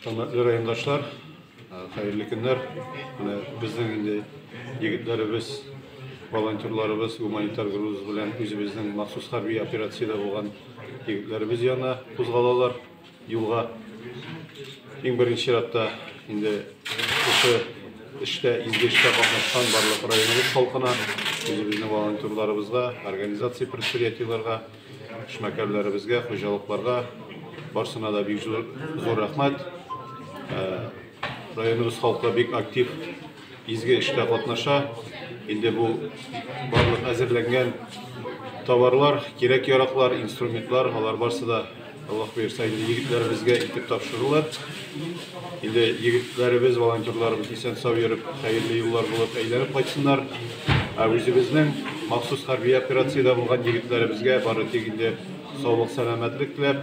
Хөрмәтле райондашлар, хәерле көннәр. Менә безнең инде егетләребез, волонтерларыбыз гуманитар груз белән үзебезнең махсус хәрби операциядә булган егетләребез янына кузгалалар. Юлга иң беренче чиратта инде кеше эштә, изге эштә катнашкан барлык районыбыз халкына, үзебезнең волонтерларыбызга, организация предприятиеләргә, эшмәкәрләребезгә, хуҗалыкларга барсына да бик зур, зур рәхмәт. Районыбыз халкы бик актив Изге эштә катнаша. Инде бу барлык әзерләнгән товарлар, кирәк яраклар, инструментлар, алар барсы да Аллаһ бирсә, инде егетләребезгә итеп тапшырылыр. Инде егетләребез, волонтерларыбыз исән сау йөреп, хәерле юллар булып әйләнеп кайтсыннар. Ә үзебезнең махсус хәрби операциядә булган егетләребезгә бары тик инде саулык, сәламәтлек теләп,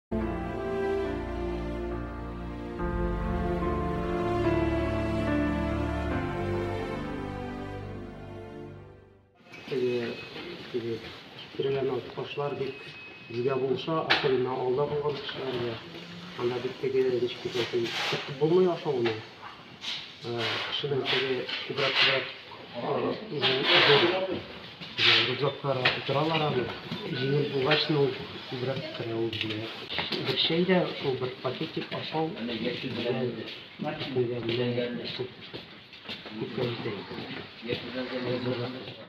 Киреләнә кошлар бик җидә булса, акылына алда булган кешеләргә. Анда бит теге ничек итә, китеп булмый ашауны. Шуның теге күбрәкләр рюкзаклар утыралар аны. Җиңел булгач, ну, күбрәк кенә ул бирә. Бер чәй дә шул бер пакетик ашау белән күпкә җитә.